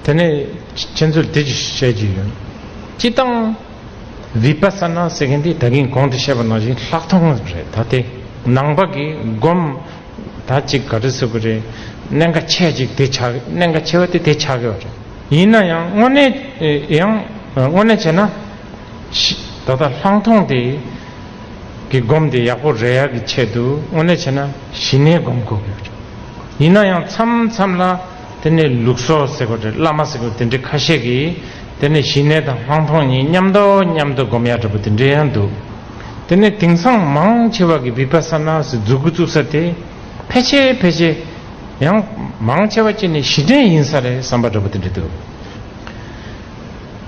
དེ་ནས་ཁྱེད་ཚོར་དེ་ཅི་ཞིག་བཤད་རྒྱུ་ཡོད། སྤྱི་དང། Vipassana ཟེར་མཁན་དེ་ད་གིན་གོང་དུ་བཤད་པ་ནང་བཞིན་ལྷག་མཐོང་རེད་ད་དེ་ནང་པ་གིས་སྒོམ། ད་ཅིག་ག་རེ་ཟེར་གི་རེད། གནད་འགའ་ཆེ་ཅིག་དེ་ཆགས་གནད་འགའ་ཆེ་བ་དེ་དེ་ཆགས་གི་རེད། ཡིན་ན་ཡང་དངོས་གནས་ཡང་དངོས་གནས་བྱས་ན། ད་ལྟ་ལྷག་མཐོང་དེ། གི་སྒོམ་དེ་ཡག་པོ་རེད་ཡག་གི་ཆེད་དུ་དངོས་གནས་བྱས་ན་གཞི་ནས་སྒོམ་དགོས་གི་རེད། ཡིན་ན་ཡང་མཚམས་མཚམས་ལ། དེ་ནི་ལུགས་སོ་ཟེར་བ་རེད་བླ་མ་ཟེར་བ་དེ་འདྲའི་ཁ་ཤས་ཀྱིས་དེ་ནི་ཞི་གནས་དང་དབང་ཐོག་གཉིས་མཉམ་འདོགས་མཉམ་དུ་སྒོམ་ཡག་འདྲ་པོ་དེ་འདྲའི་ཡང་འདུག་དེ་ནི་དེང་སང་མང་ཆེ་བ་གི Vipassana སི་འཛུགས་དགུ་བཙུགས་ས་དེ་ཕལ་ཆེ་ཕལ་ཆེ་ཡང་མང་ཆེ་བ་གཅིག་ནི་ཞི་གནས་ཡིན་ས་རེད་བསམ་པ་འདྲ་པོ་དེ་འདྲ་འདུག་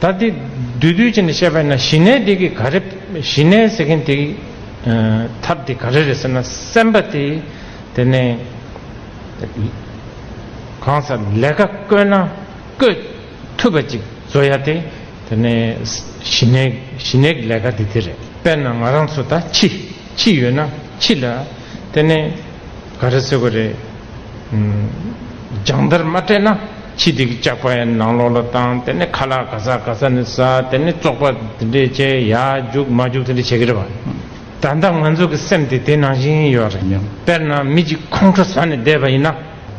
ད་དེ་འདུས་འདུས་བྱས་ནས་བཤད་པ་ཡིན་ན་ཞི་གནས་དེ་གི་ག་རེ་ཞི་གནས་ཟེར་མཁན་དེ་གི་ཐབས་དེ་ག་རེ་རེད་ཟེར་ན་སེམས་པ་དེ་དེ་ནི། གང་སར་ལས་ཀ་བསྐོས་ན་བསྐོས་ཐུབ་པ་ཅིག་བཟོ་ཡ་དེ་དེ་ནས་གཞི་ནས་གཞི་ནས་ཀྱི་ལས་ཀ་དེ་དེ་རེད། དཔེར་ན་ང་རང་ཚོ་ད་འཆི་འཆི་ཡོད་ན་འཆི་ལ་དེ་ནས་ག་རེ་ཟེར་གོ་རེད། སྦྱང་བརྡར་མ་སྤྲད་ན་འཆི་དེ་གི་ལྕགས་པ་ཡང་ནང་ལོགས་ལ་བཏང་དེ་ནས་ཁ་ལག་ག་ས་ག་ས་ནས་ཟ་དེ་ནས་བཙོག་པ་དེ་འདྲས་བྱས་ཡ་རྒྱུག་མ་རྒྱུག་དེ་འདྲས་བྱེད་ཀྱི་རེད་བ། ད་ལྟ་ང་ཚོ་གི་སེམས་དེ་དེ་ནང་བཞིན་ཡོད་རེད་སྙམ། དཔེར་ན་མི་གཅིག་ཁོང་ཁྲོ་ཟ་ནས་བསྡད་པ་ཡིན་ན།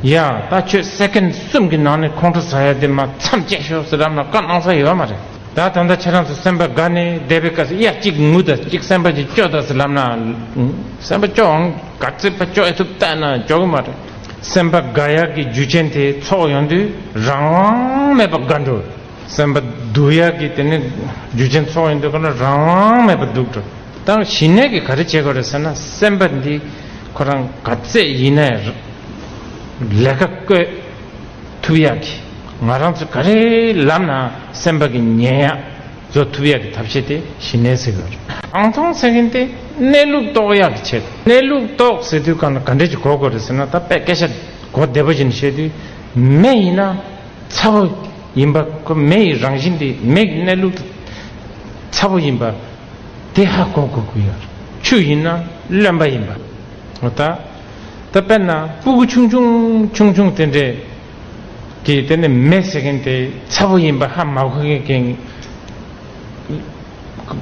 ཡ། ད་ཁྱོད་སེཀེན་གསུམ་གྱི་ནང་ནས་ཁོང་ཁྲོ་ཟ་ཡ་དེ་མ་མཚམས་བཅད་ཤོག་ཟེར་རམ་ན་བཀའ་གནང་ས་ཡོད་མ་རེད། ད་ད་ལྟ་ཁྱེད་རང་ཚོ་སེམས་པ་དགའ་ནས་བསྡད་པའི་སྐབས་སུ་ཡ་གཅིག་ངུ་དང་གཅིག་སེམས་པ་ཅིག་སྐྱོ་དང་ཟེར་ལབ་ན། སེམས་པ་སྐྱོ་འང་དགའ་སེམས་པ་སྐྱོ་ཡ་ཐུབ་བལྟས་ན་སྐྱོ་གི་མ་རེད། སེམས་པ་དགའ་ཡ་གི་རྒྱུ་ཆེན་དེ་ཚོགས་ཡོང་དུས་རང་དབང་མེད་པ་དགའ་འགྲོ། སེམས་པ་སྡུག་ཡག་གི་དེ་ནི་རྒྱུ་ཅན་ཚོགས་ཡིན་འདུག་ག་ན་རང་དབང་མེད་པ་འདུག་ད་ཞི་གནས་ཀྱི་ག་རེ་བྱེད་དགོས་རེད་ཟེར་ན་སེམས་པ་འདི་ཁོ་རང་ག་ཚད་ཡིན་ནས་ལས་ཀ་བསྐོས་ཐུབ་ཡག་གི་ང་རང་ཚོ་ག་རེ་ལབ་ན་སེམས་པ་གི་ཉན་ཡག་བཟོ་ཐུབ་ཡག་གི་ཐབས་ཤེས་དེ་ཞི་གནས་ཟེར་གི་རེད། རང་མཐོང་ཟེར་མཁན་དེ་གནས་ལུགས་རྟོགས་ཡག་གི་བྱེད་དགོས་གནས་ལུགས་རྟོགས་ཟེར་དུས་ག་ན་ག་འདྲས་ཀྱི་གོ་དགོས་རེད་ཟེར་ན་ད་དཔེ་སྐད་ཆ་གོ་བདེ་པོ་ཞིག་ནས་བཤད་དུས་མེ་ཡིན་ན། ཚ་བོ་ཡིན་པ། མེ་ཡི་རང་བཞིན་དེ་མེ་གི་གནས་ལུགས་དེ་ཚ་བོ་ཡིན་པ། དེ་ཧ་གོ་དགོས་ཀྱི་ཡོད། ཆུ་ཡིན་ན་རློན་པ་ཡིན་པ། འོ་ད། ད་དཔེར་ན་སྤུ་གུ་ཆུང་ཆུང་ཆུང་ཆུང་དེ་འདྲས་ཀྱིས་དེ་ནི་མེ་ཟེར་མཁན་དེ་ཚ་བོ་ཡིན་པ་ཧ་མ་གོ་མཁན།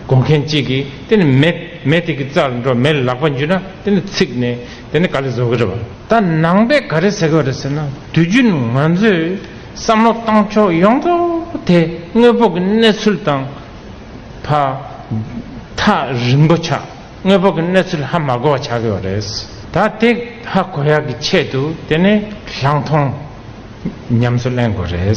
གོ་མཁན་གཅིག་གིས་དེ་ནི་མེ་མེ་དེ་གི་རྩར་འགྲོ་མེ་ལག་པ་འཇུས་ན་དེ་ནི་ཚིག་ནས་དེ་ནི་ག་རེ་བཟོ་གི་རེད་བ། ད་ནང་པས་ག་རེ་ཟེར་གི་རེད་ཟེར་ན་དུས་རྒྱུན་ང་ཚོས་བསམ་བློ་བཏང་ཕྱོགས་ཡོངས་རྫོགས་དེ་དངོས་པོ་གི་གནས་ཚུལ་དང། བ། ཐག་རིང་པོ་ཆགས་དངོས་པོ་གི་གནས་ཚུལ་ཧ་མ་གོ་བ་ཆགས་ཀྱི་བ་རེད། ད་དེ་ཧ་གོ་ཡག་གི་ཆེད་དུ་དེ་ནི་ལྷག་མཐོང་ཉམས་སུ་གླེང་དགོས་རེད།